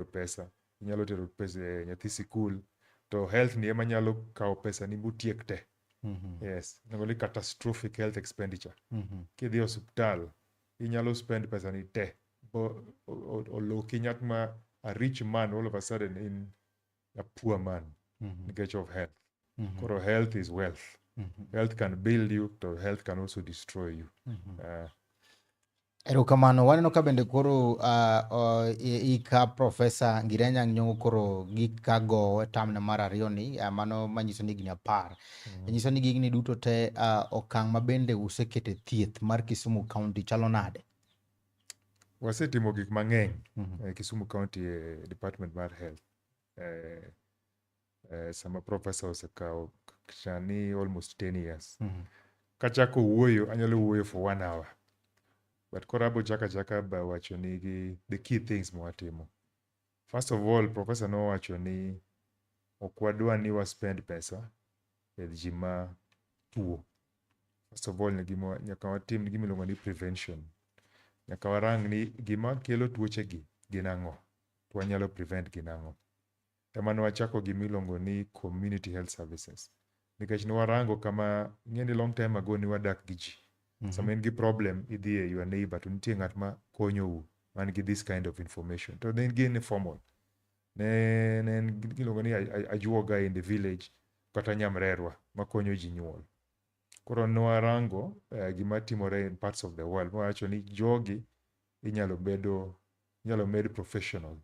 to pesa inyalo tero pesa eh, nyathi sikul to health ni ema nyalo kawo pesa ni mutiek te mm -hmm. yes nengo ni catastrophic health expenditure mm -hmm. kidhi e osiptal inyalo spend pesa ni te oloki nyak ma a rich man all of a sudden in a poor man mm -hmm. nikech of health mm -hmm. koro health is wealth mm -hmm. health can build you to health can also destroy you mm -hmm. uh, Erokamano. Waneno ka bende koro uh, uh, ika Profesa Ngirenya Nyong'o koro gika gowo tamne mar ariyo ni uh, mano manyiso ni higni apar. Mm. E nyiso ni gigni duto te uh, okang' ma bende usekete thieth mar Kisumu County chalo nade? Wasetimo gik mang'eny mm -hmm. e Kisumu County e Department mar Health. E, eh, sama profesa osekawo chani almost 10 years mm. kachako wuoyo anyalo wuoyo for one hour but koro abo chaka chaka ba wacho ni gi the key things mwatimo first of all profesa nowacho ni ok wadwa ni wa spend pesa e ji ma tuo first of all gima nyaka watim gima iluongo ni prevention nyaka warang ni gima kelo tuoche gi gin ang'o to wanyalo prevent gin ang'o emane wachako gima iluongo ni community health services nikech ne warango kama ing'eni long time ago ne wadak gi ji mm -hmm. sama in gi problem idhi e your neighbor to nitie ng'at ma konyou man gi this kind of information to ne gin formal ne ne en giluongo ni ajuoga in the village kata nyamrerwa makonyo ji nyuol koro ne warango uh, gima timore in parts of the world mawacho ni jogi inyalo bedo inyalo med professional.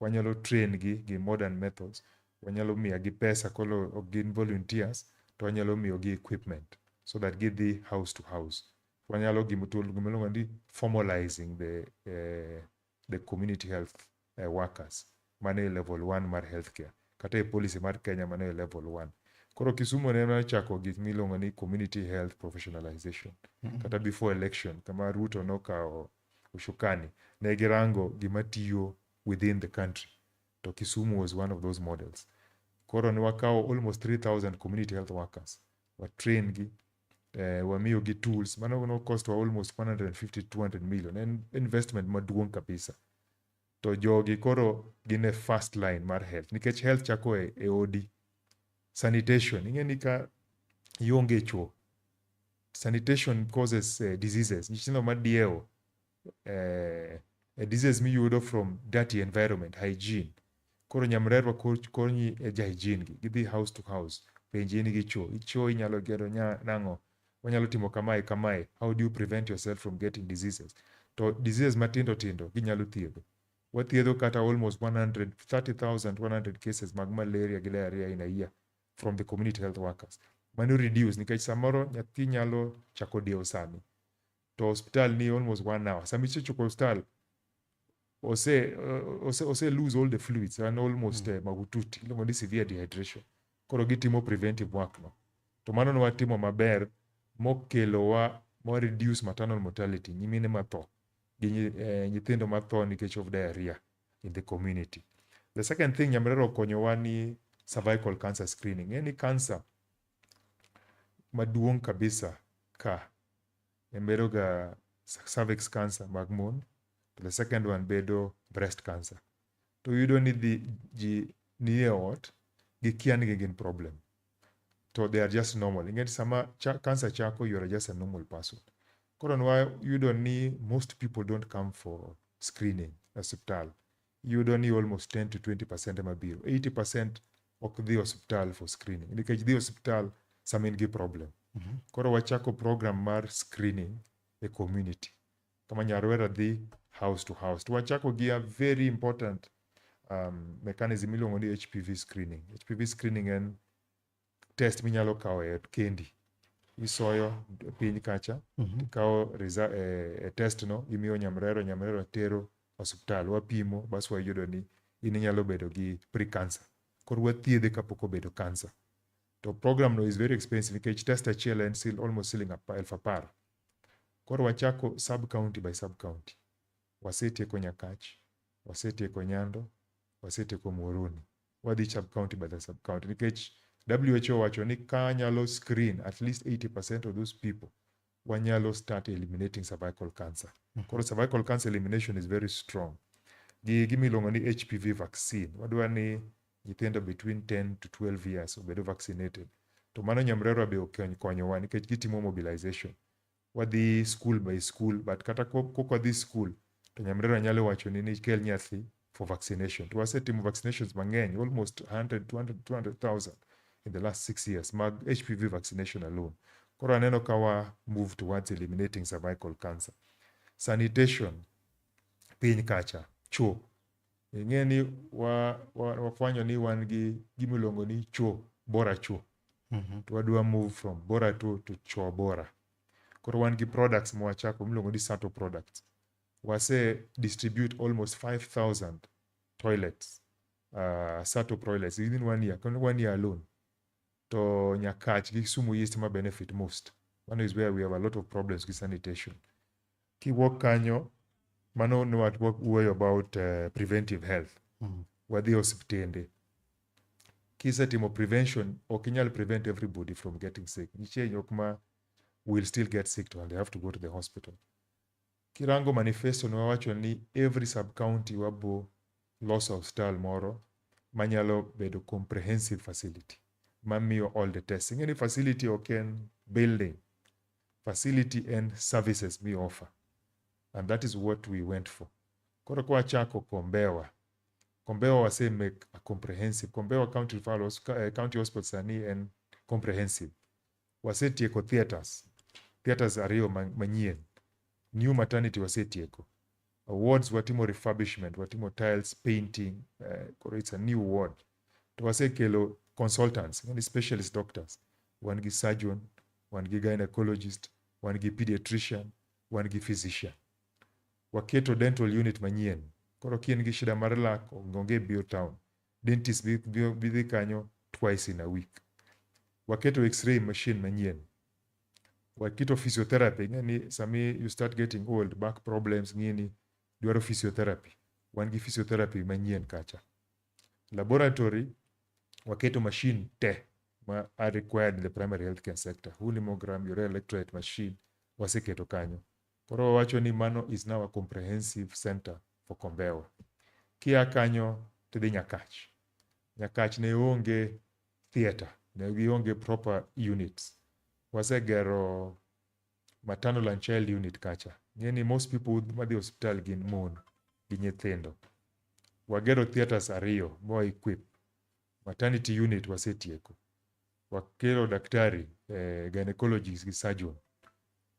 Wanyalo train gi gi modern methods, wanyalo miya gi pesa kolo ok gin volunteers to wanyalo miyo gi equipment so that gidhi house to house. Wanyalo gimo to gima iluongo ni formalizing the eh, the community health eh, workers mano e level 1 mar healthcare kata e policy mar Kenya mano e level 1. Koro Kisumu ne ochako gik miluongo ni community health professionalization kata before election kama Ruto nokawo Ushukani, ne girango gima tiyo within the country. To Kisumu was one of those models. Koro ne wakawo almost 3000 community health workers. Wa train gi, eh, wamiyo gi tools. Mano no cost wa almost 150 200 million. En investment maduong' kabisa. to jogi koro gin e first line mar health nikech health chako e, e odi sanitation ing'e ni ka ionge chuo sanitation causes uh, diseases nyithindo madiewo uh, a disease miyudo from dirty environment hygiene koro nyamrerwa ko- konyi e ja hygiene gi gidhi house to house penji in gi chuo ichuo inyalo gero nya- nang'o Wanyalo timo kamae kamae, how do you prevent yourself from getting diseases? To diseases matindo tindo ginyalo thiedho. Wathiedho kata almost 130,100 cases mag malaria gi diarrhea in a year from the community health workers. Mano reduce nikech samoro nyathi nyalo chako dewo sani. to hospital ni almost one hour sama isechopo hospital ose ose ose lose all the fluids and almost mm. uh, mahututi iluongo ni severe dehydration koro gitimo preventive work no to mano ne watimo maber mokelowa mo reduce maternal mortality nyimine matho gi nyi- eh, nyithindo matho nikech of diarrhea in the community the second thing nyamrera okonyowa ni cervical cancer screening ng'e ni cancer maduong' kabisa ka en bedo ga cervix cancer mag mon to the second one bedo breast cancer to yudo ni dhi ji nie ot gikia ni gin problem to they are just normal ing'e sama cha, cancer chako you are just a normal person koro nwa yudo ni most people don't come for screening e hospital yudo ni almost 10 to 20 percent ema biro 80 percent ok dhi hospital for screening nikech dhi hospital sama in gi problem mm -hmm. koro wachako program mar screening e community kama nyarwera dhi house to house to wachako gi a very important um, mechanism iluongo ni hpv screening hpv screening en test minyalo kawo e ot kendi isoyo piny kacha Mhm. ikawo resa- eh, eh, test no imiyo nyamrero nyamrero tero osiptal wapimo bas wayudo ni in inyalo bedo gi pre-cancer koro wathiedhe kapok obedo cancer to program no is very expensive nikech test achiel en sil- almost siling apa- elfu apar koro wachako sub county by sub county Wasetieko Nyakach, wasetieko Nyando, wasetieko Muhoroni. Wadhi sub county by the sub county nikech WHO wacho ni ka nyalo screen at least 80% of those people wanyalo start eliminating cervical cancer. Mm -hmm. Koro cervical cancer elimination is very strong. Gi gimiluongo ni HPV vaccine. Wadwa ni nyithindo between 10 to 12 years obedo vaccinated. To mano nyamrerwa be okonyowa nikech gitimo mobilization. wadhi school by school but kata kok wadhi school to nyamrera nyalo wacho ni nikel nyathi for vaccination to wasetimo vaccinations mang'eny almost 100 200 200,000 in the last six years mag HPV vaccination alone koro aneno ka wa move towards eliminating cervical cancer sanitation piny kacha choo ing'e ni wa- wa- wafwanyo ni wan gi gima iluongo ni chuo bora chuo Mhm. to wadwa move from bora to, to chuo bora koro wan gi products mwachako miluongo ni sato products wase distribute almost 5000 toilets uh, sato toilets within one year kon- one year alone to nyakach gi kisumu east ma benefit most one is where we have a lot of problems with sanitation Kiwuok kanyo, mano ne wawuoyo about uh, preventive health. Mm. Wadhi osiptende. Kisetimo prevention, ok inyal prevent everybody from getting sick. Nitie jok ma will still get sick to and they have to go to the hospital. Kirango manifesto ne wawacho ni every sub county wabo loso hospital moro manyalo bedo comprehensive facility mamiyo all the testing. Any facility ok en building facility and services mi offer and that is what we went for. Koro kwa chako Kombewa. Kombewa wase make a comprehensive. Kombewa County Referral Hos- eh, County Hospital sani en comprehensive. Wasetieko theaters. Theaters ariyo ma- manyien. New maternity wasetieko. Wards watimo refurbishment, watimo tiles, painting, eh, koro it's a new ward. To wasekelo consultants, yani specialist doctors. Wan gi surgeon, wan gi gynecologist, wan gi pediatrician, wan gi physician. Waketo dental unit manyien. Koro ka in gi shida mar lak, onge biyo town. Dentist bi, bi, bi dhi kanyo twice in a week. Waketo x-ray machine manyien. Waketo physiotherapy, ing'e ni sami you start getting old, back problems, ng'ini, dwaro physiotherapy. Wan gi physiotherapy manyien kacha. Laboratory waketo machine te ma are required in the primary healthcare sector. Huu ni mogram, urea electrolyte machine waseketo kanyo. Koro wawacho ni mano is now a comprehensive center for Kombewa. Kia kanyo tidhi Nyakach. Nyakach ne onge theater, ne gionge proper units. Wasegero maternal and child unit kacha ng'e ni most people madhi hospital gin mon gi nyithindo wagero theatres ariyo ma equip maternity unit wasetieko wakero daktari eh, gynecologist gi surgeon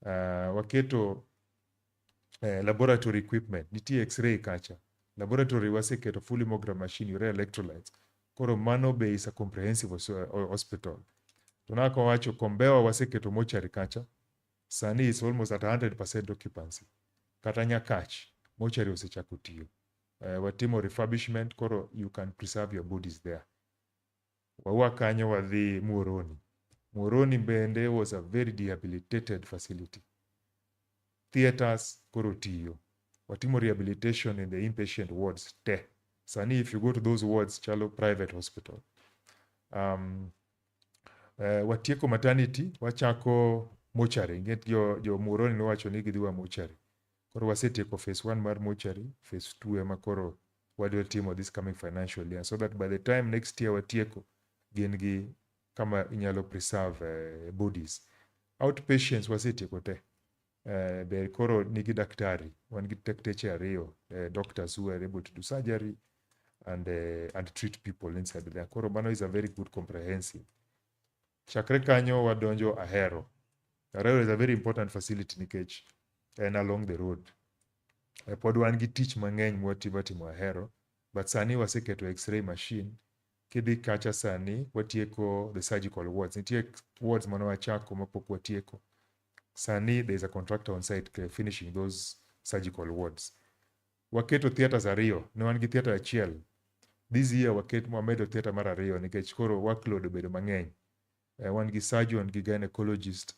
uh, waketo eh, laboratory equipment nitie x-ray kacha laboratory waseketo full hemogram machine urea electrolytes koro mano be is a comprehensive hos- eh, hospital to naka wacho kombewa waseketo mochari kacha sani is almost at 100% occupancy kata nyakach mochari osechako tiyo eh, watimo refurbishment koro you can preserve your bodies there Wawua kanyo wadhi Muhoroni. Muhoroni bende was a very rehabilitated facility. Theatres koro tiyo. Watimo rehabilitation in the inpatient wards te. Sani if you go to those wards chalo private hospital. Um, uh, watieko maternity, wachako mochari. Inget jo, jo Muhoroni nowacho ni gidhiwa mochari. Koro wasetieko phase one mar mortuary, phase two ema koro wadwa timo this coming financial year so that by the time next year watieko gin gi kama inyalo preserve uh, bodies. Outpatients wasetieko te. Uh, be koro nigi daktari, wan gi dakteche ariyo, uh, doctors who are able to do surgery and, uh, and treat people inside there. Koro mano is a very good comprehensive Chakre kanyo wadonjo Ahero. Ahero is a very important facility nikech en along the road. E pod wan gi tich mang'eny mwatiba timo Ahero, but sani waseketo x-ray machine. Kidhi kacha sani watieko the surgical wards. Nitie wards mane wachako mapok watieko. Sani there is a contractor on site finishing those surgical wards. waketo theatres ariyo, ne wan gi theatre achiel. This year waket, wamedo theatre mar ariyo nikech koro workload obedo mang'eny. Eh, wan gi surgeon gi gynecologist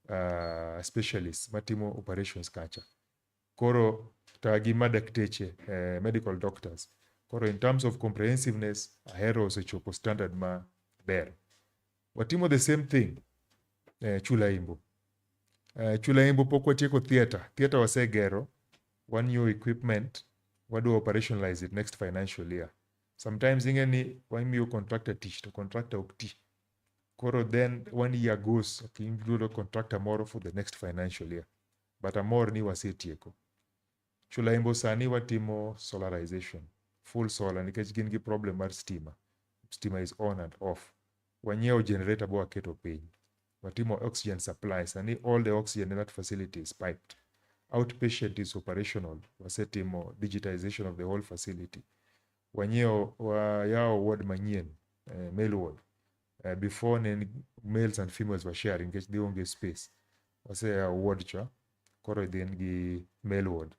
uh, specialist matimo operations kacha. Koro ta gi madakteche, eh, medical doctors. Koro in terms of comprehensiveness, ahero osechopo standard maber. Watimo the same thing eh, Chula Imbu. Eh, Chula Imbu pok watieko theatre. Theatre wasegero, one new equipment, wadu operationalize it next financial year. Sometimes ing'e ni wamiyo contractor tich to contractor ok ti. Koro then one year goes, okay, yudo contractor moro for the next financial year. But amor ni wasetieko. Chulaimbo sani watimo solarization, full solar nikech gin gi problem mar stima. Stima is on and off. Wanyiewo generator bo waketo piny. Watimo oxygen supply. Sani all the oxygen in that facility is piped. Outpatient is operational. Wasetimo digitization of the whole facility. Wanyiewo wayawo ward manyien, eh, male ward. eh, before ne en males and females were sharing nikech dhi onge space wase uh, ward cha koro dhi en gi male ward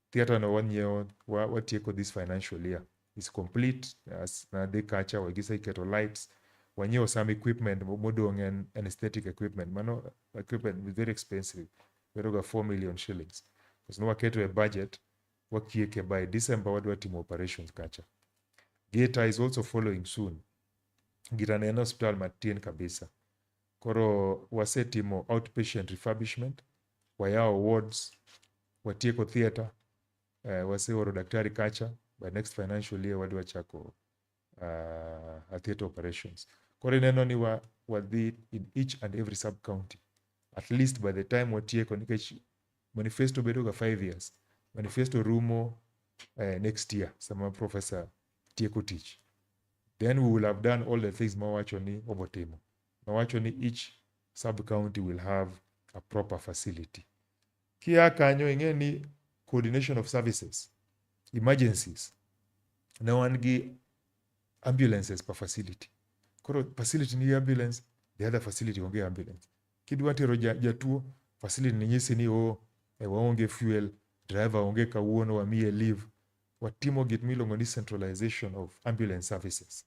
theatre no wanyiewo wa- watieko this financial year is complete as na dhi kacha wagise iketo lights wanyiewo some equipment mo- modong en anesthetic equipment mano equipment is very expensive bedoga 4 million shillings because no waketo e budget wakieke by december wadwa timo operations kacha Geta is also following soon. Girane en osiptal matin kabisa. Koro wasetimo outpatient refurbishment, wayawo wards, watieko theatre, uh, waseoro daktari kacha, by next financial year wadwa chako uh, a theatre operations. Koro ineno ni wa, wadhi in each and every sub county at least by the time watieko nikech manifesto bedoga 5 years manifesto rumo uh, next year sama professor tieko tich. Then we will have done all the things mawacho ni obotimo. Mawacho ni each sub county will have a proper facility. Kia kanyo ing'e ni coordination of services, emergencies, ne wan gi ambulances per facility. Koro facility ni ambulance, the other facility onge ambulance. Kidwa tero jatuo, facility ni nyisi ni oh, e waonge fuel, driver onge kawuono wamiye leave, watimo gik miluongo ni centralization of ambulance services.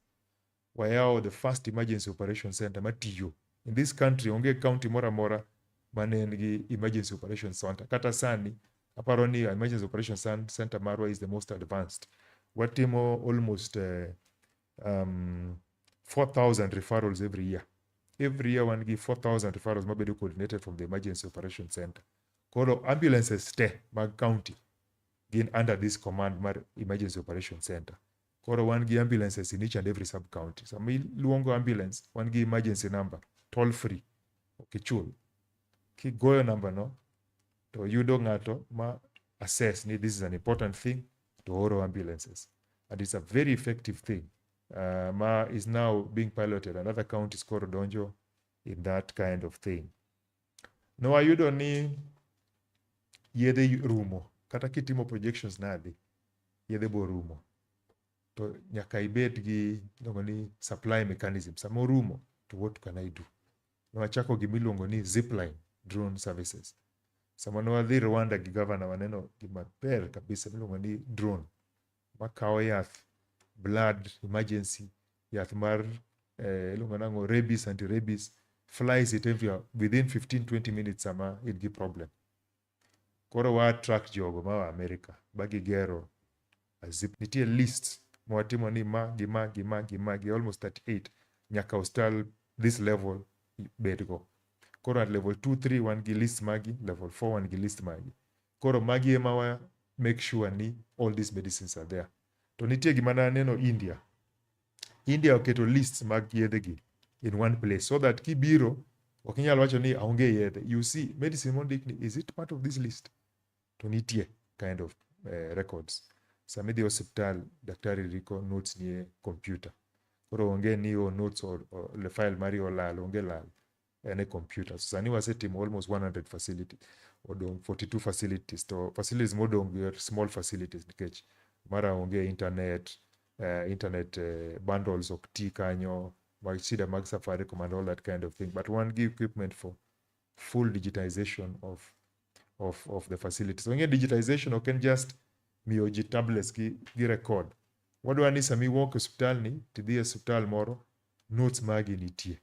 Wayawo the first emergency operation center matiyo. In this country onge county moro amora mane en gi emergency operation center. Kata sani aparo ni emergency operation center marwa is the most advanced. Watimo almost uh, um, 4,000 referrals every year. Every year wan gi 4,000 referrals mabedo coordinated from the emergency operation center. Koro ambulances te mag county gin under this command mar emergency operation center koro wan gi ambulances in each and every sub county sama iluongo ambulance wan gi emergency number toll free ok ichul kigoyo namba no to yudo ng'ato ma assess ni this is an important thing to oro ambulances and it's a very effective thing uh, ma is now being piloted and other counties koro donjo in that kind of thing ne wayudo ni yedhe rumo kata kitimo projections nadi yedhe bo rumo to nyaka ibed gi iluongo ni supply mechanism sama orumo to what can i do ne wachako gima iluongo ni zipline drone services sama ne wadhi rwanda gi gavana waneno gima ber kabisa miluongo ni drone makawo yath blood emergency yath mar eh, iluongo nango rabies anti rabies flies it everywhere within 15 20 minutes sama in gi problem koro wa attract jogo ma wa America ba gigero a zip nitie list mwatimo ni ma gi ma gi ma gi ma gi almost 38 nyaka hostel this level bedgo koro at level 2 3 wan gi list magi level 4 wan gi list magi Koro magi ema wa make sure ni all these medicines are there. To nitie gima na neno India. India oketo lists mag yedhegi in one place so that kibiro ok inyal wacho ni aonge yedhe. You see medicine mondik ni is it part of this list? To nitie kind of uh, records. Sama idhi hospital daktari riko notes nie computer. Koro onge ni o oh, notes or, or le file mari olal, onge lal. en e computer. So sani wasetimo almost 100 facility, odong' 42 facilities to facilities modong' gi are small facilities nikech mara onge internet, eh, internet eh, bundles ok ti kanyo, mag shida mag Safaricom and all that kind of thing. But wan gi equipment for full digitization of of of the facilities. Onge digitization ok en just miyo ji tablets gi, gi record. Wadwa ni sami walk e osiptal ni, tidhi e osiptal moro, notes magi nitie.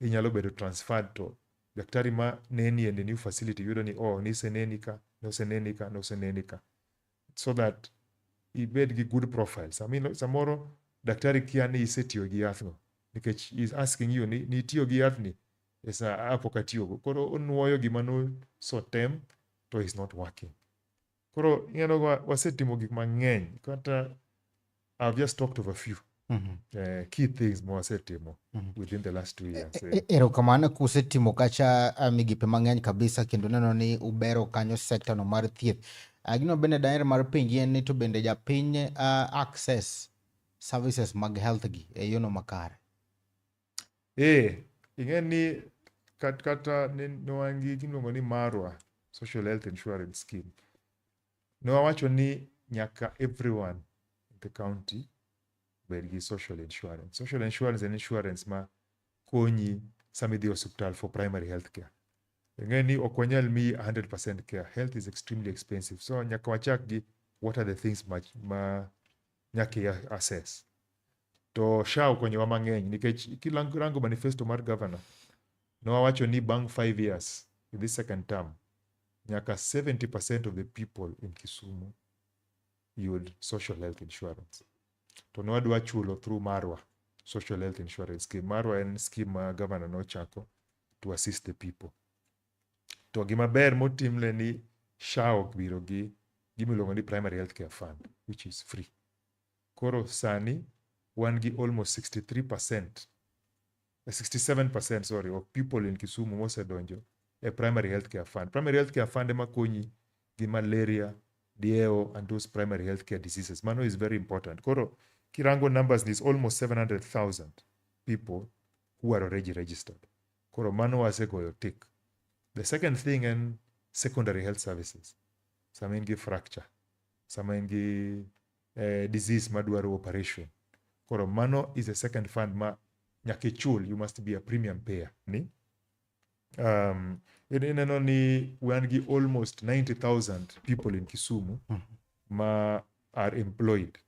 Inyalo bedo transferred to daktari ma neni e new facility yudo ni oh niseneni ka, noseneni ka, noseneni ka. So that ibed gi good profile. Samino, samoro daktari kia ni isetiyo gi yathno nikech is asking you ni nitiyo gi yathni e sa apo katiyogo. Koro onwoyo gima nosotem to is not working. Koro ing'eno wa- wasetimo gik mang'eny kata I've just talked of a few Mhm. eh, key things ma wasetimo Mhm. within the last two years. E- eh. e- Erokamano kusetimo kacha ah, migepe mang'eny kabisa kendo neno ni ubero kanyo sekta no mar thieth. Ah, Gino bende daher mar penji en ni to bende japiny ah, access services mag health gi e yono makare. Ee, ing'e ni kat, kata ne ne wan gi gimiluongo ni Marwa Social Health Insurance Scheme. Ne wawacho ni nyaka everyone in the county bed gi social insurance. Social insurance en insurance ma konyi sama idhi e osiptal for primary health care. Ing'e ni ok wanyal miyi 100% care. Health is extremely expensive. So nyaka wachak gi what are the things ma, ma nyaka i assess. to SHA okonyowa mang'eny nikech kirango manifesto mar governor nowacho ni bang' five years in this second term nyaka 70% of the people in Kisumu yud social health insurance to nwadwa chulo through Marwa social health insurance scheme. Marwa en scheme ma governor nochako to assist the people. To gima ber motimne ni SHA ok biro gi gimiluongo ni primary health care fund which is free. Koro sani wan gi almost 63 percent 67 percent sorry of people in Kisumu mosedonjo e primary healthcare fund. Primary healthcare fund ema konyi gi malaria, dieo and those primary healthcare diseases. Mano is very important. Koro kirango numbers is almost 700,000 people who are already registered. Koro mano wasegoyo tick. The second thing en secondary health services. Sama in gi fracture, sama in gi eh, disease madwaro operation koro mano is a second fund ma nyaka ichul you must be a premium payer ni um, in- ineno ni wan gi almost 90000 people in kisumu ma are employed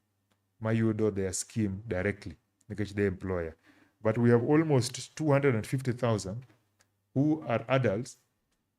mayudo their scheme directly nikech the employer but we have almost 250000 who are adults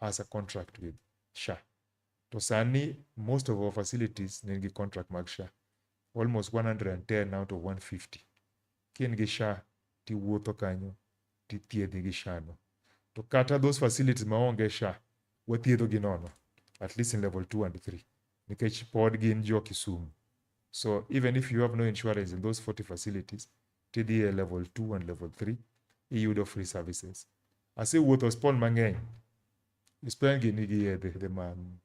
has a contract with SHA. To sani most of our facilities ni gi contract mag SHA. Almost 110 out of 150. Kin gi SHA tiwuotho kanyo tithiedhi gi SHA no. To kata those facilities ma onge SHA wathiedho gi nono at least in level 2 and 3 nikech pod gin jo Kisumu. So even if you have no insurance in those 40 facilities, tidhi e level 2 and level 3 iyudo free services. Asewuotho hospital mang'eny, hospital gi nigi yedhe yedhe man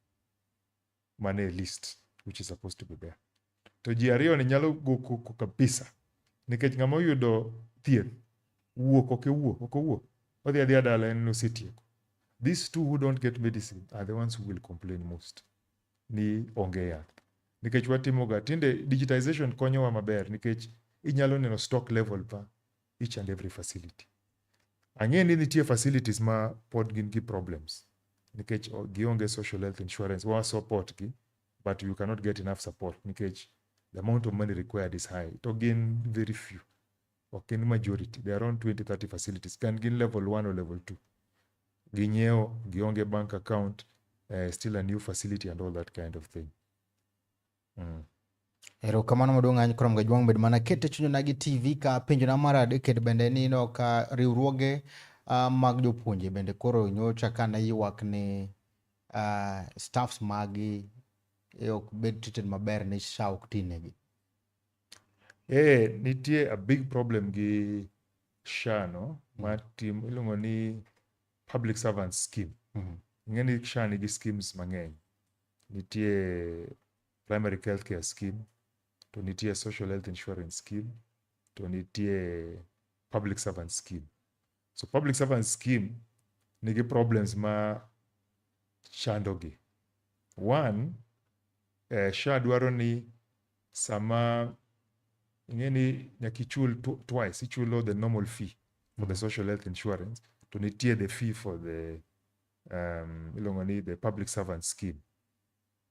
man e list which is supposed to be there. To ji ariyo ni nyalo go koko kabisa nikech ng'ama oyudo thieth wuok ok owuo ok owuo odhi adhiya dala en osetieko. These two who don't get medicine are the ones who will complain most. ni onge yath nikech watimoga tinde digitization konyowa maber nikech inyalo neno stock level pa each and every facility. Ang'e ni nitie facilities ma pod gin gi problems nikech gionge social health insurance wa support gi but you cannot get enough support nikech the amount of money required is high to gin very few ok gin majority, they are around 20 30 facilities kan gin level 1 or level 2. Ginyiewo, gionge bank account, uh, still a new facility and all that kind of thing. Mm. Erokamano maduong' ahinya kuom gajwang' bed mana kete chunyona gi TV ka penjo na mar adek e bende ni no ka riwruoge uh, mag jopuonje bende koro nyocha ka ne ywak ni uh, staffs magi e ok bed treated maber ni SHA ok tinegi. Eh, nitie a big problem gi SHA no ma mm. tim iluongo ni public servant scheme. Mm. Ing'e ni SHA nigi schemes mang'eny. Nitie primary health care scheme, to nitie social health insurance scheme, to nitie public servant scheme. So public servant scheme nigi problems ma chandogi. One, eh, SHA dwaro ni sama ing'e ni nyaka ichul tw- twice, ichulo the normal fee for the social health insurance to nitie the fee for the um, iluongo ni the public servant scheme.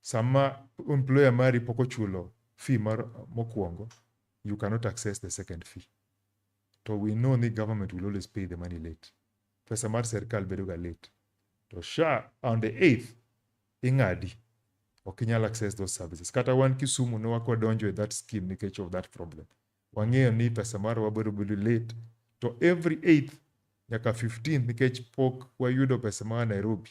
Sama employer mari pok ochulo fee mar mokwongo, you cannot access the second fee. To we know ni government will always pay the money late. Pesa mar serikal bedoga late. To SHA on the 8th ing'adi. Ok inyal access those services. Kata wan Kisumu ne wakwa donjo e that scheme nikech of that problem. Wang'eyo ni pesa mar wabiro bedo late. To every 8th nyaka 15th nikech pok wayudo pesa mar Nairobi.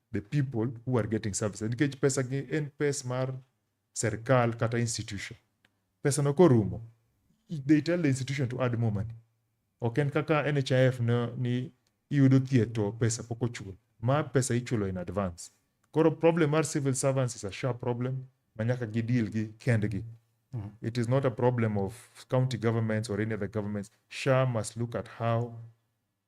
the people who are getting services nikech pesa gi en pes mar serikal kata institution pesa no korumo they tell the institution to add more money ok en kaka NHIF no, ni iyudo thieth to pesa pok ochul ma pesa ichulo in advance koro problem mar civil servants is a sharp problem ma nyaka gi deal gi kendgi it is not a problem of county governments or any other governments sha must look at how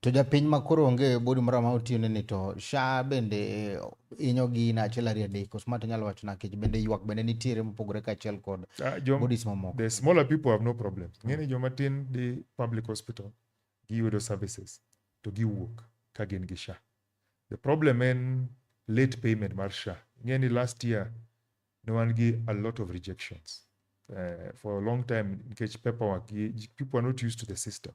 To japiny ma koro onge body moro ma otiyone ni to SHA bende eh, inyo gi na achiel ariyo adek koso ma to inyalo wacho na kech bende ywak bende nitiere mopogore ka achiel kod Ah, jom- bodies mamoko. the smaller people have no problem ng'e ni joma tin dhi public hospital giyudo services to giwuok ka gin gi sha the problem en late payment mar sha ng'e ni last year ne wan gi a lot of rejections uh, for a long time nikech paperwork gi- ji- people are not used to the system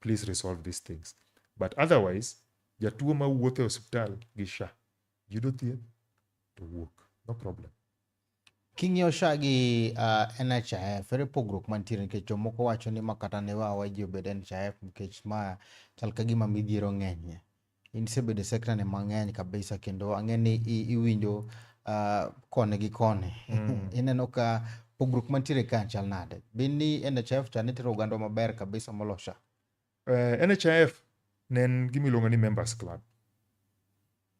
please resolve these things but otherwise jatuo ma wuotho e osiptal gi sha yudo thieth to wuok no problem king'iyo sha gi uh, ah, NHIF ere pogruok mantiere nikech jomoko wacho ni ma kata ne wawa ji obed NHIF nikech ma chal ka gima midhiero ng'enyie in isebedo e sekta ni mang'eny kabisa kendo ang'e ni iwinjo uh, koni gi koni mm. ineno ka pogruok mantiere ka chal nade bin ni nhf cha nitero oganda maber kabisa molosha uh, eh, nhf ne en gima iluongo ni members club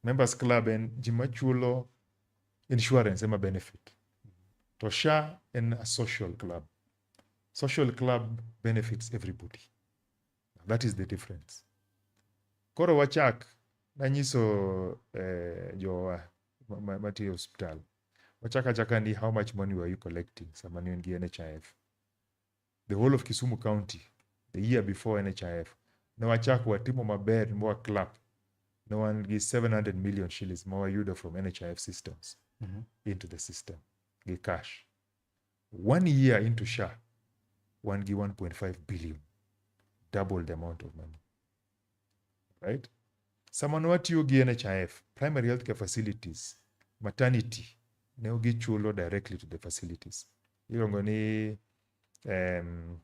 members club en ji machulo insurance ema benefit to sha en a social club social club benefits everybody That is the difference. Koro wachak nanyiso eh, jowa matiyo hospital wachaka chaka ni how much money were you collecting sama ne gi NHIF the whole of Kisumu County the year before NHIF ne wachak watimo maber mwa clap ne wan gi 700 million shillings ma wayudo from NHIF systems mm -hmm. into the system gi cash one year into sha wan gi 1.5 billion double the amount of money right sama ne watiyo gi nhif primary health care facilities maternity ne gichulo directly to the facilities iluongo ni um,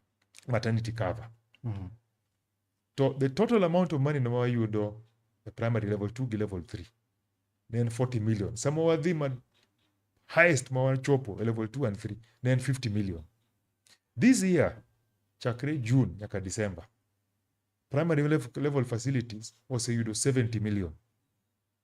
maternity cover Mm. To the total amount of money ma wayudo e primary level 2 gi level 3 ne en 40 million. Sama wadhi ma highest ma wachopo e level 2 and 3 ne en 50 million. This year chakre June nyaka December primary level, level facilities oseyudo 70 million.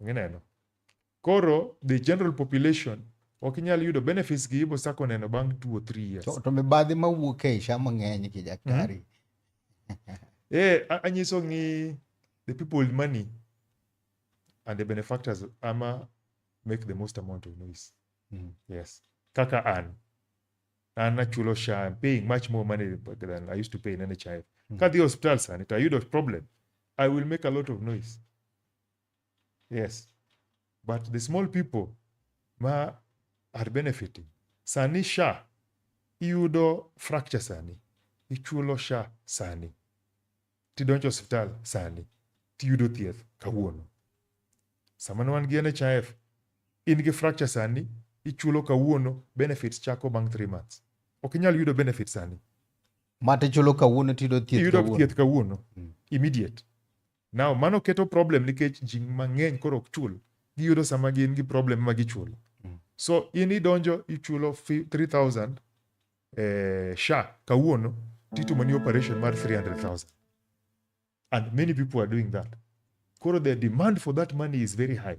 Ineno. Koro the general population ok inyal yudo benefits gi ibo sako neno bang' two or three years. To, to mibadhi mawuok e isha mang'eny ki daktari. Mm -hmm. eh, anyiso ni the people with money and the benefactors ama make the most amount of noise. Mm -hmm. Yes. Kaka an. An achulo sha, I'm paying much more money than I used to pay in NHIF. Mm -hmm. Kadhi hospital sani, to I a problem. I will make a lot of noise. yes but the small people ma are benefiting sani sha iyudo fracture sani ichulo sha sani tidonjo osiptal sani tiyudo thieth kawuono sama ne wan gi NHIF in gi fracture sani ichulo kawuono benefits chako bang' 3 months ok inyal yudo benefits sani mate chulo kawuono tiyudo thieth iyudo kawuono. thieth kawuono immediate Now, mano keto problem nikech ji mang'eny koro ok chul. Giyudo sama gin gi problem ma gichulo. Mm. So, in idonjo ichulo 3000 eh, sha kawuono titimo ni operation mar 300,000. And many people are doing that. Koro the demand for that money is very high.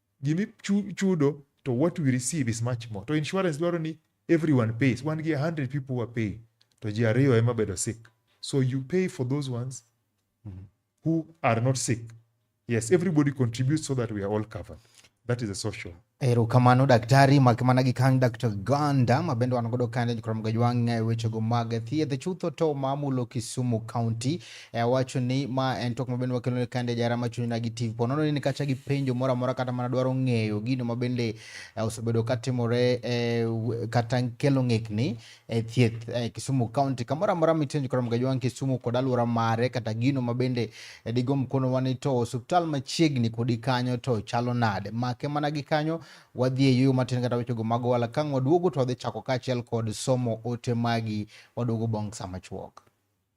gimi chudo to what we receive is much more. To insurance dwaro ni everyone pays. Wan gi 100 people who are paying to ji ariyo ema bedo sick. So you pay for those ones mm-hmm. who are not sick. Yes, everybody contributes so that we are all covered. That is a social. Erokamano daktari makmana gi kang Dr. Ganda ma bende wan godo kane jokram gajwang' e wechego mag thieth chutho to mamulo Kisumu County E awacho ni ma en twak mabende wakelo ni kande jara machuni na gi TV po nono ni kacha gi penjo mora mora kata mana dwaro ng'eyo gino mabende e, osebedo katimore e, kata kelo ng'ikni e thieth e, Kisumu County kamora mora mitenjo kora mgajwang Kisumu kod aluora mare kata gino mabende e, digo mkono wani to osiptal machiegni kodi kanyo to chalo nade make mana gi kanyo wadhi e yuyo matin kata wechogo mago wala kang' waduogo to wadhi chako kaachiel kod somo ote magi waduogo bong' sama chuok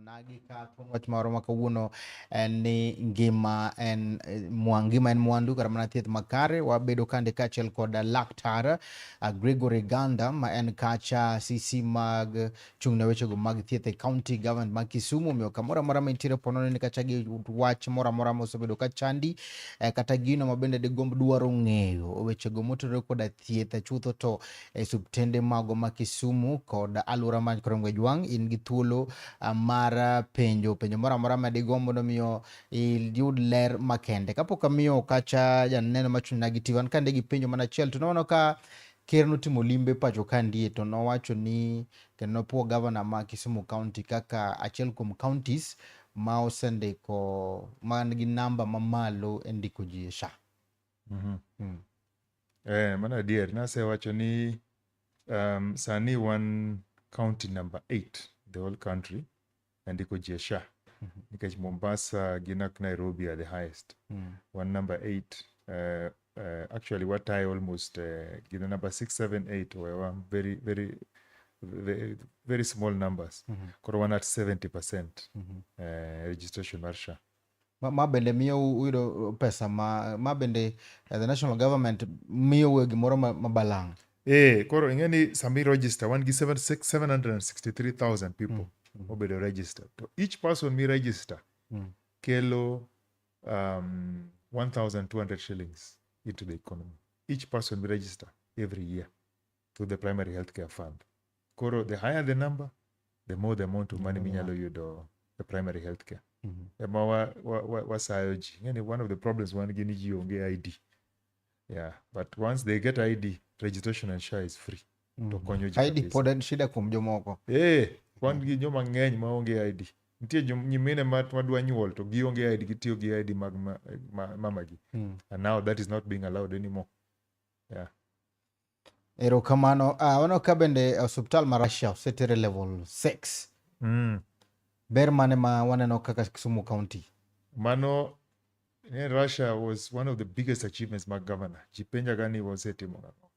Nagi ka thuon wach moro ma kawuono en ni ngima en eh, mwa- ngima en mwandu kata mana thieth makare wabedo kande kaachiel kod laktar ah, Gregory Ganda ma en kacha CC mag chung' ne wechego mag thieth e county government ma Kisumu omiyo kamoro amora ma intiere po nono ni kacha gi wach moro amora ma osebedo ka chandi eh, kata gino ma bende digomb dwaro ng'eyo wechego motudore koda thieth chutho to e subtende mago ma Kisumu kod alwora ma Korongwe-Jwang', in gi thuolo ah, mar ah, penjo penjo moro amora ma digo mondo miyo iyud ler makende. Kapok amiyo kacha janeno machung'na gi tiwan kande gi penjo mana achiel to nono ka ker notimo limbe pacho ka ndie to nowacho ni kendo nopuo gavana ma Kisumu County kaka achiel kuom counties ma osendiko man gi namba mamalo e ndiko ji e SHA. Mhm. Mm. Eh, mano adier nasewacho ni um, sani wan county number 8 the whole country nandiko ji e sha Mhm. nikech mombasa gi nak nairobi are the highest Mm. wan number 8 uh, uh, actually watayo almost uh, gina number 678 we were very very very, very small numbers Mhm. koro wan at 70 percent Mhm. uh, registration mar sha Ma, ma bende miyo uyudo pesa ma, ma bende uh, the national government miyo we gimoro ma, ma balang'. Eh, koro ing'e ni sami register wan gi 763,000 people mm. Mm. obedo register. To each person mi register mm. kelo um, 1,200 shillings into the economy. Each person mi register every year. through the primary healthcare fund koro the higher the number the more the amount of money minyalo yudo e primary healthcare Mhm. ema wa- wa- wa- wasayo ji yani one of the problems wan gi ni ji onge id yeah but once they get id registration and share is free to konyo ji ID kabisa. pod en shida kuom jomoko Eh, wan gi joma ng'eny ma onge id nitie jom- nyimine ma ma dwa nyuol to gionge id gitiyo gi id mag ma- ma- mamagi Mm. and now that is not being allowed anymore Erokamano. Uh, ah, ono ka bende osiptal ma Russia osetere level 6. Mm. Ber mane ma waneno kaka Kisumu County? Mano ne Russia was one of the biggest achievements mag governor. Jipenja gani wasetimo nang'o?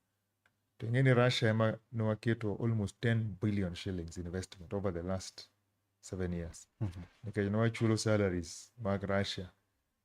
To ing'e ni Russia ema nwaketo almost 10 billion shillings investment over the last seven years. Mm -hmm. Nikech nwachulo salaries mag Russia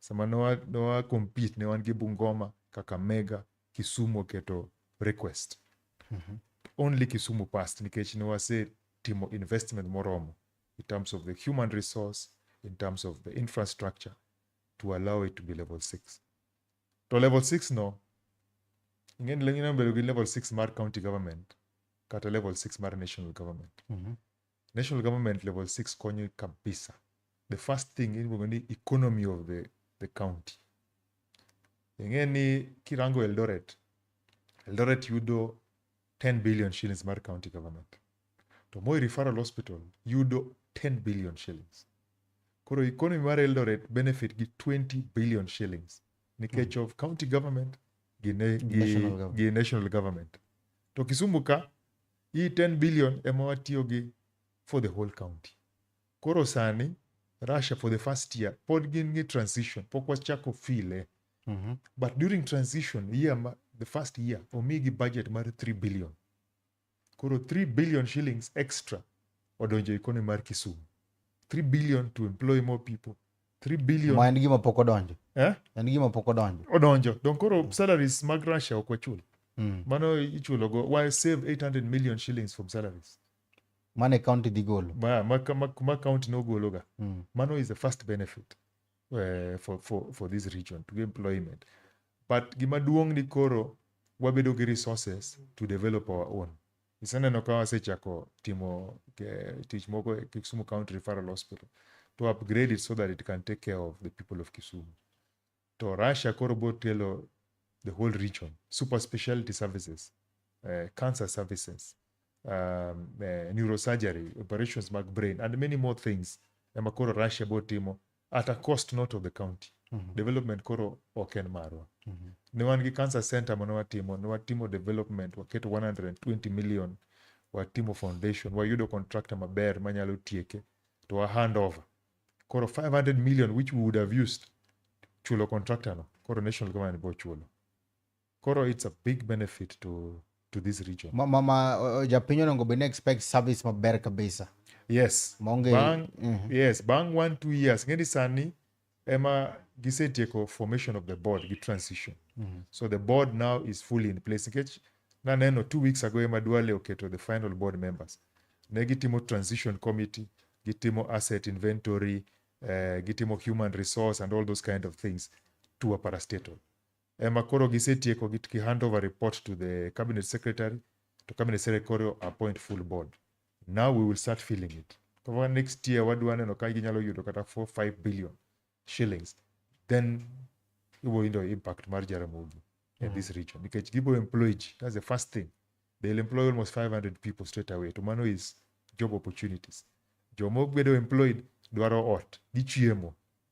sama ne wa, ne wa compete ne wan gi Bungoma, Kakamega, Kisumu oketo request. Only Kisumu passed nikech ne wase timo investment moromo in terms of the human resource, in terms of the infrastructure to allow it to be level 6. To level 6 no, ing'eni lengine bedo gi level 6 mar county government kata level 6 mar national government. National government level 6 konyo kabisa. The first thing iluongo ni economy of the, the county. Ing'e ni kirango Eldoret, Eldoret yudo 10 billion shillings mar county government. To Moi Referral Hospital yudo 10 billion shillings. Koro economy mar Eldoret benefit gi 20 billion shillings nikech of county government gi, ne, gi, National government. gi national government. To Kisumu ka hii 10 billion ema watiyo gi for the whole county. Koro sani Russia for the first year pod gin gi transition, pok wachako file mm -hmm. but during transition year ma, the first year omigi budget mar 3 billion. Koro 3 billion shillings extra odonjo economy mar Kisumu. 3 billion to employ more people 3 ma billion en gima pok odonjo eh? en gima pok odonjo odonjo donc koro salaries mag russia ok wachul mm. mano ichulogo wa save 800 million shillings from salaries mane county dhi golo ma, ma, ma, ma county nogologa mm. mano is the first benefit uh, for, for, for this region to employment but gima duong' ni koro wabedo gi resources to develop our own iseneno ka wasechako timo eh, tich moko e Kisumu County Referral Hospital to upgrade it so that it can take care of the people of Kisumu. To Russia koro bo telo the whole region, super specialty services, uh, cancer services, um, uh, neurosurgery, operations mag brain and many more things ema koro Russia bo timo at a cost not of the county Mhm. development koro ok en marwa Mhm. ne wan gi cancer center mane watimo ne watimo development waketo 120 million watimo foundation wayudo contractor maber manyalo tieke to wa hand over koro 500 million which we would have used chulo contractor no koro national government bo chulo Koro it's a big benefit to to this region. Ma, ma, ma uh, japiny onego bed ni expect service maber kabisa. Yes. Monge, bang, mm -hmm. yes, bang one two years ng'eni sani ema gisetieko formation of the board gi transition. Mm -hmm. So the board now is fully in place nikech naneno two weeks ago ema Duale oketo the final board members. Ne gitimo transition committee, gitimo asset inventory, uh, gitimo human resource and all those kind of things to a parastatal. ema koro gisetieko gi ki hand over report to the cabinet secretary to cabinet secretary appoint full board now we will start filling it kama next year wadwa neno ka ginyalo yudo kata 4 5 billion shillings then ibo yudo impact mar Jaramogi in this region nikech gibo employ ji that's the first thing they'll employ almost 500 people straight away to mano is job opportunities joma obedo employed dwaro ot gi chiemo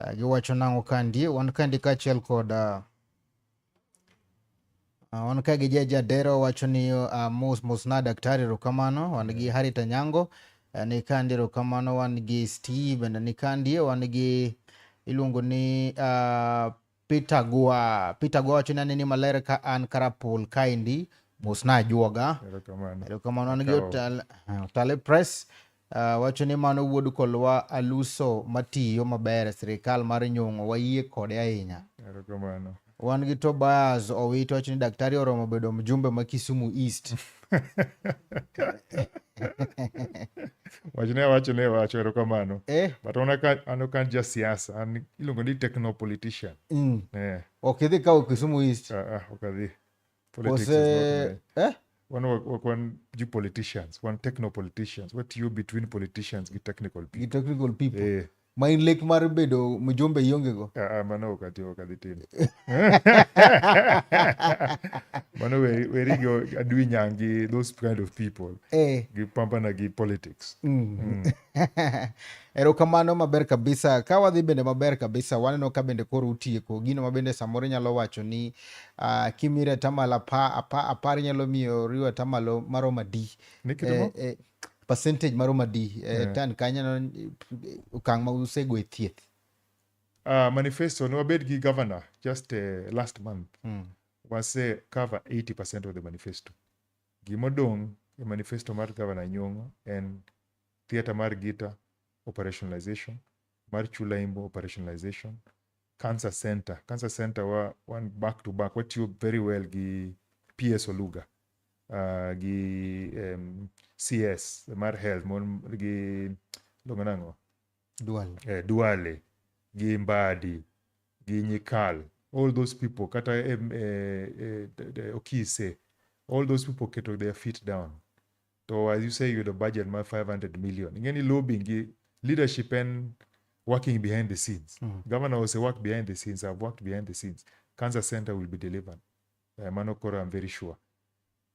Uh, giwacho nang'o kandi wan kandi kaachiel kod uh, uh, wan ka gi jaja dero wacho ni uh, mos mos na daktari erokamano wan gi Harriet Anyango uh, ni kandi erokamano wan gi Steve bende ni kandi wan gi iluongo ni uh, Peter Gua. Peter Gua wacho ni aneni maler ka an Karapul kaendi mos na ajuoga. Erokamano. Erokamano an gi Otale, Otale Press. Uh, wacho ni mano wuod kolwa aluso matiyo maber e sirikal mar nyong'o wayie kode ahinya. Erokamano. Wan gi Tobias Owiti wacho ni daktari oromo bedo mjumbe ma Kisumu East. wachne awacho ne wacho erokamano eh. but an ok an ja siasa an iluongo ni techno politician mm. eh. ok idhi kawo kisumu east uh, uh, ok adhi Ose... eh? wan wak wan ju politicians wan techno politicians watiyo between politicians gi technical people, gi technical people. Eh. ma in lek mar bedo mjumbe iongego Ah, ah, mano ok ati ok adhi timo mano we- weri go adwi nyangi those kind of people eh. gipampana gi politics Mm. erokamano maber kabisa ka wadhi bende maber kabisa waneno ka bende koro utieko gino ma bende samoro inyalo wacho ni uh, kimire atamalo apa, apa, apar inyalo miyo riwo atamalo maromo adi Ni kitimo? eh, eh, percentage maromo adi e eh, yeah. tan kanyo okang' ma usego e thieth uh, manifesto ne wabed gi governor just uh, last month mm. wase cover 80 percent of the manifesto gimodong' e manifesto mar governor nyong'o en theatre mar gita operationalization mar Chulaimbo operationalization, Cancer Center. Cancer Center wa, wan back to back watiyo very well gi PS Oluga uh, gi um, CS mar health mon gi luongo nang'o Dual. eh, Duale gi Mbadi gi Nyikal all those people kata em, eh, eh, d- d- Okise all those people keto their feet down to as you say yudo budget mar 500 million ing'e ni lobbying gi leadership en working behind the scenes mm. governor ose work behind the scenes i've worked behind the scenes cancer center will be delivered uh, mano koro i'm very sure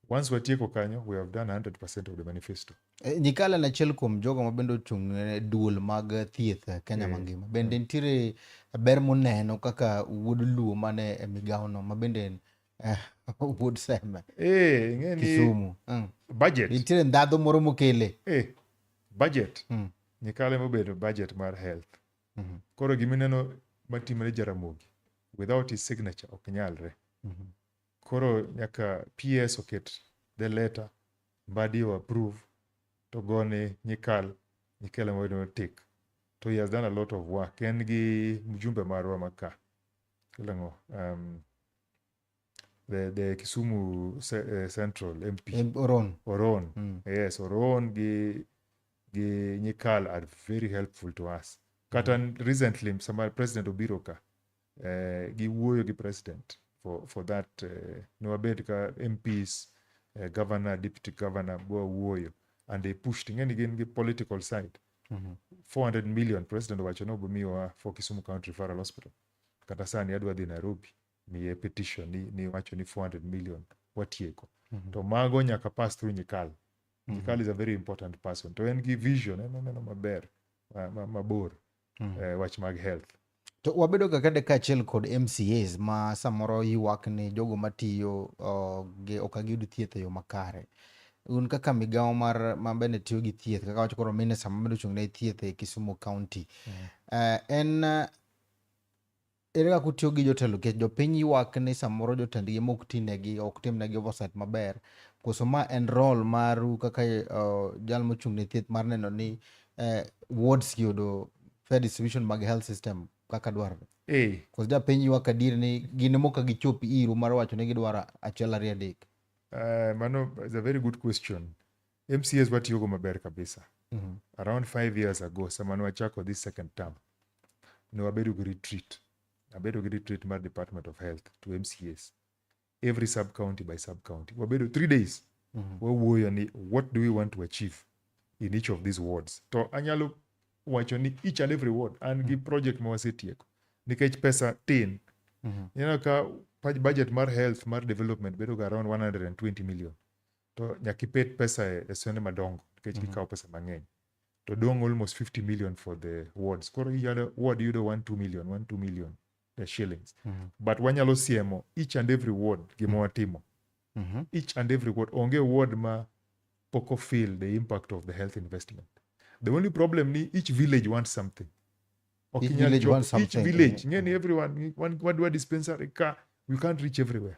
once watieko kanyo we have done 100% of the manifesto e, nikala na achiel kuom jogo ma bende ochung' ne duol mag thieth e, kenya e, mangima bende nitiere ber moneno kaka wuod luo mane e migawono ma bende eh, wuod sembe eh, ng'eni kisumu mm. budget nitiere ndhadho moro mokele eh, budget mm. nyikale mobedo budget mar health mm -hmm. koro gimineno matimre jaramogi without his signature ok nyalre mm -hmm. koro nyaka ps oket the letter mbadi o approve to gone nyikal nyikale mobedo tik to he has done a lot of work en gi mjumbe marwa maka ilang'o um, the, the kisumu ce- eh, central mp Eh, Oron. oron Mm. yes oron gi gi nyikal are very helpful to us kata n- recently sama president obiro ka eh, giwuoyo gi president for, for that eh, ne wabed ka mps eh, governor deputy governor bwawuoyo and they pushed ing'eni gin gi political side Mhm. 400 million president owacho ni obomiwa for kisumu county referral hospital kata sani adwa dhi Nairobi miye petition ni, ni wacho ni 400 million watieko mm -hmm. to mago nyaka pass through Nyikal mm -hmm. Nyikal is a very important person to en gi vision en oneno maber mabor ma, ma mm -hmm. uh, wach mag health to wabedo ga kade kaachiel kod MCAs ma samoro ywak ni jogo matiyo uh, gi ok agiyud thieth e yo makare un kaka migawo mar mabende tiyo gi thieth kaka wacho koro minista mabedo ochung' ne thieth e Kisumu County mm. uh, en Ere kaka utiyo gi jotelo nikech jopiny ywak ni samoro jotendgi mok tinegi ok timnegi oversight maber koso ma en role maru kaka uh, jal mochung' ne thieth mar neno ni uh, wards gi yudo fair distribution mag health system kaka dwarore eh. koso japiny ywak adier ni gin moka gichop iru mar wacho ni gidwaro achiel ariyo adek uh, mano is a very good question MCAs watiyogo maber kabisa. Mm -hmm. Around five years ago, sama ne wachako this second term, ne wabedo gi retreat. Abedo gi retreat mar Department of Health to MCAs. Every sub county by sub county. Wabedo three days. Mm -hmm. Wawuoyo ni what do we want to achieve in each of these wards. To anyalo wacho ni each and every ward an gi mm. project ma wasetieko nikech pesa tin. Mm -hmm. Ineno ka budget mar health mar development bedo ga around 120 million. to nyaka ipet pesa e, e sione madongo nikech mm -hmm. gikawo pesa mang'eny to dong almost 50 million for the wards koro iyudo ward yudo 1 2 million 1 2 million the shillings mm -hmm. but wanyalo siemo each and every ward gima mhm. watimo mm -hmm. each and every ward onge ward ma poko feel the impact of the health investment the only problem ni each village wants something okay, each village, wants something. Each village. Mm -hmm. everyone, one, one, one dispensary, car, you can't reach everywhere.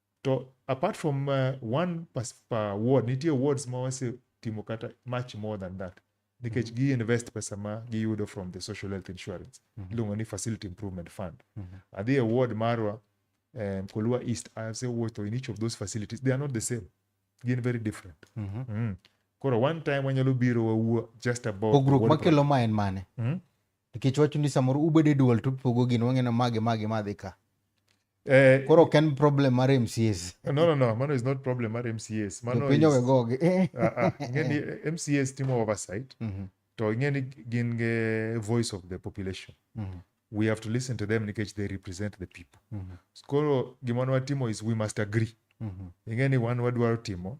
To apart from uh, one per, per ward, nitie wards ma wase timo kata much more than that nikech mm -hmm. gi invest pesa ma giyudo from the social health insurance mm -hmm. iluongo ni facility improvement fund mm -hmm. adhi e ward marwa um, kolua east i have said water in each of those facilities they are not the same gin very different mm -hmm. mm. koro one time wanyalo biro wawuo just about pogruok makelo ma en mane mm -hmm. nikech wacho ni samoro ubedo e dual to upogo gino wang'e na mage mage madhi ka Eh, koro ok en problem mar mcs no, no, no, mano is not problem mar MCAs. Mano jopiny is, owegogi eh. ah, ah, ing'e ni MCAs timo oversight Mhm, to ing'e ni gin ge voice of the population. mhm, We have to listen to them nikech they represent the people. mhm, Koro gima ne watimo is we must agree. mhm, Ing'e ni wan wadwaro timo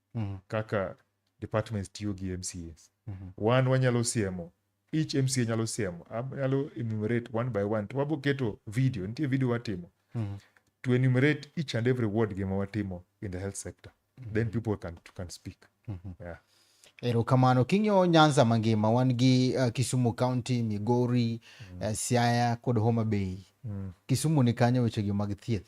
Mhm. kaka departments tiyo gi mcas Mhm. wan wanyalo siemo each mca nyalo siemo Ab- nyalo enumerate one by one to wabo keto video nitie video watimo Mhm. to enumerate each and every ward gima watimo in the health sector then people can, can speak Mhm. yeah. erokamano king'iyo nyanza mangima wan gi uh, kisumu county migori uh, siaya kod homa bay mm. kisumu ni kanyo wechegi mag thieth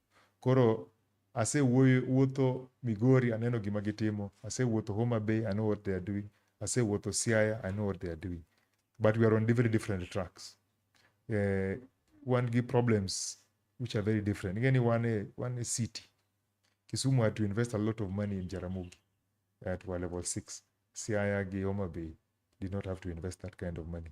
Koro asewuotho Migori, aneno gima gitimo. Asewuotho Homa Bay, I know what they are doing. Asewuotho Siaya, I know what they are doing. But we are on very different tracks. Uh, wan gi problems which are very different. Ing'e ni wan e, wan e city. Kisumu had to invest a lot of money in Jaramogi at our level 6. Siaya gi Homa Bay did not have to invest that kind of money.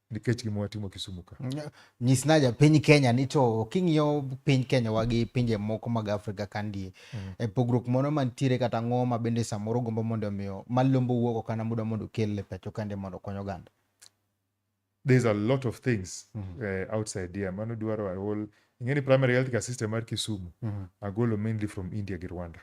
nikech gima watimo Kisumu ka. Nyis na japiny Kenya ni to king'iyo piny Kenya wa gi pinje moko mag Afrika kandi mm. e pogruok moro mantiere kata ang'o ma bende samoro gombo mondo omiyo malombo wuok ok kana muda mondo okel e pacho kande mondo okony oganda. There's a lot of things mm -hmm. uh, outside here mano dwaro a whole ing'e ni primary health care system mar Kisumu mm -hmm. agolo mainly from India gi Rwanda.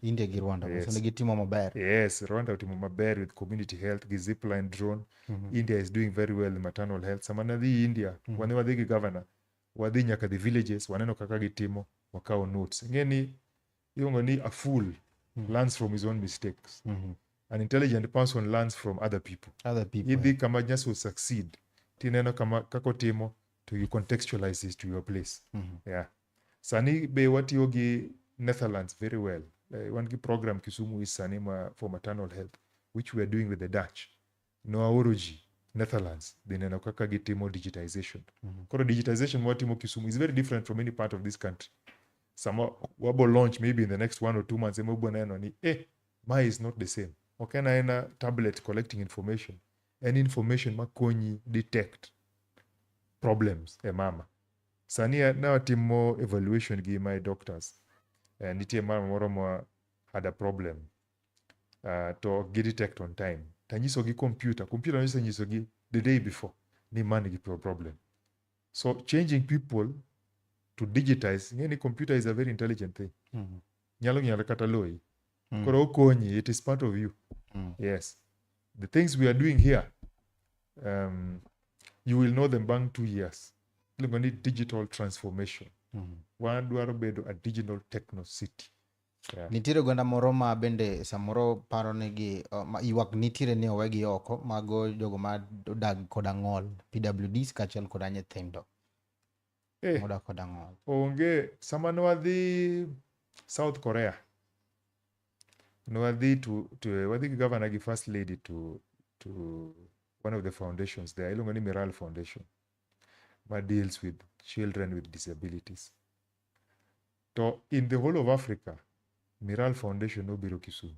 India gi Rwanda yes. So gitimo maber. Yes, Rwanda otimo maber with community health gi zipline drone. Mm -hmm. India is doing very well in maternal health. Sama nadhi India, mm -hmm. wane wadhi gi governor, wadhi nyaka the villages, waneno kaka gitimo, wakawo notes. Ing'e ni iluongo ni a fool mm -hmm. learns from his own mistakes. Mm -hmm. An intelligent person learns from other people. Other people. Idhi kama just will succeed. Tineno kama kako timo to you contextualize this to your place. Mm -hmm. Yeah. Sani be watiyo gi Netherlands very well. Eh, wan gi program Kisumu East sani ma for maternal health which we are doing with the Dutch. Nowaoro ji Netherlands dhi neno kaka gitimo digitization. Koro digitization ma watimo Kisumu is very different from any part of this country. Sama wabo launch maybe in the next one or two months ema wabo neno ni eh ma is not the same. Ok en aena tablet collecting information. En information makonyi detect problems e mama. Sani eh, ne watimo evaluation gi my doctors. Uh, nitie mama moro ma had a problem uh, to ok gi detect on time. Tanyisogi computer, computer nonyisa nyisogi the day before ni ma nigi problem. So changing people to digitize, ng'e ni computer is a very intelligent thing. Mm -hmm. nyalo ng'iyo kata loyi Mm. koro okonyi it is part of you Mm. yes the things we are doing here um, you will know them bang two years iluongo ni digital transformation Mm. wadwaro bedo a digital techno city yeah. nitiere oganda moro ma bende samoro paro ni gi uh, ma- ywak nitiere ni owegi oko mago jogo ma odag koda ng'ol pwds kaachiel koda nyithindo Eh. Muda kod ang'ol. onge sama nwadhi south korea nwadhi to, to wadhi gi governor gi first lady to, to one of the foundations there iluongo ni miral foundation ma deals with children with disabilities to in the whole of africa miral foundation nobiro kisumu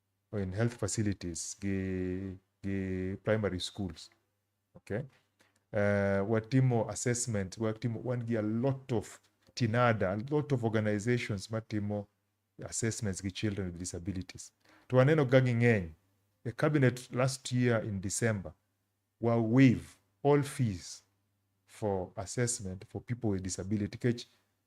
in health facilities gi, gi primary schools okay uh, watimo assessment watimo wan gi a lot of tinada a lot of organizations matimo assessments gi children with disabilities to waneno ga ging'eny the cabinet last year in december wa waive all fees for assessment for people with disability kech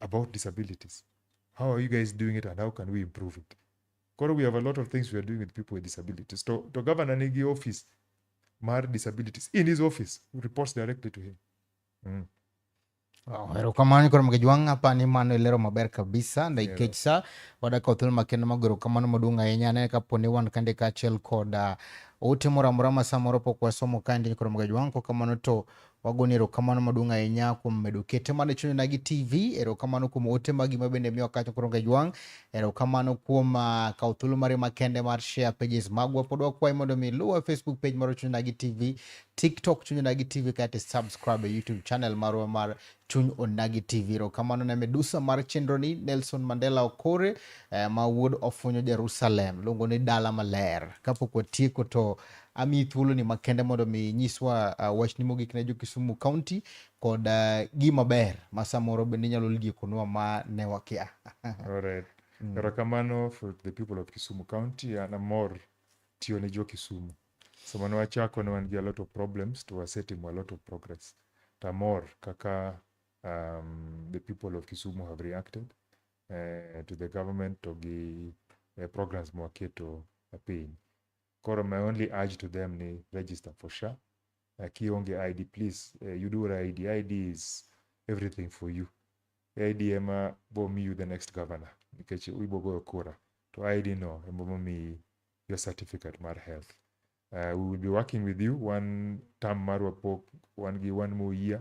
about disabilities. How are you guys doing it and how can we improve it? Koro we have a lot of things we are doing with people with disabilities. To, to governor nigi office mar disabilities in his office reports directly to him. Mm. Wow, erokamano koro mge jwang' apa ni mano ilero maber kabisa ndaikech sa wadaka othul makendo magoro kamano maduong' ahinya anene kapo ni wan kande kaachiel kod uh, ote moro amora ma samoro pok wasomo kaendi koro mge jwang' kokamano to Wagoni erokamano maduong' ahinya kuom medo kete mana e chunyna gi TV. Erokamano kuom ote magi ma bende miyo kacha koro ngejwang'. Erokamano kuom uh, kawo thuolo mari makende mar share pages magwa. Pod wakwayi mondo mi luwa Facebook page mar chunyna gi TV, TikTok chunyna gi TV kata subscribe e YouTube channel marwa mar chuny onagi tv erokamano ne medusa mar chenroni nelson mandela okore eh, ma wuod ofunyo jerusalem luongo ni dala maler kapok watieko to amiyi thuoloni makende mondo mi nyiswa uh, wachni mogik ne jo-Kisumu County kod uh, gima ber ma samoro bende inyalo liekonwa ma ne wakia. Alright. Erokamano for the people of Kisumu County. An amor tiyo ne jo-Kisumu. Sama ne wachako ne wan gi a lot of problems to wasetimo a lot of progress. To amor kaka um, the people of Kisumu have reacted eh, to the government to gi eh, programs mwaketo e piny. Koro my only urge to them ni register for SHA. Uh, kionge ID please uh, you do ID. ID is everything for you. ID ema bo mi you the next governor nikech ibo goyo kura to ID no ema bo mi your certificate mar health. Uh, we will be working with you one term marwa pok one gi one more year.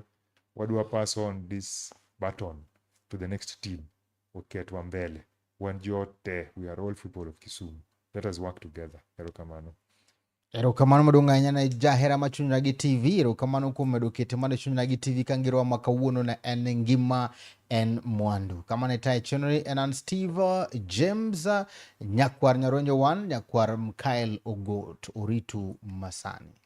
Wadwa pass on this baton to the next team. oketwa mbele. Wan joot te, we are all people of Kisumu. Let us work together. Erokamano. Erokamano maduong' ahinya ne jahera ma chunyra gi TV. Erokamano kuom medo kete mana chunyra gi TV ka ngirowa ma kawuono ne en ngima en mwandu. Kama ne tayo chenroni en an Steve James, nyakwar Nyaronjo One, nyakwar Mkael Ogot. Oritu masani.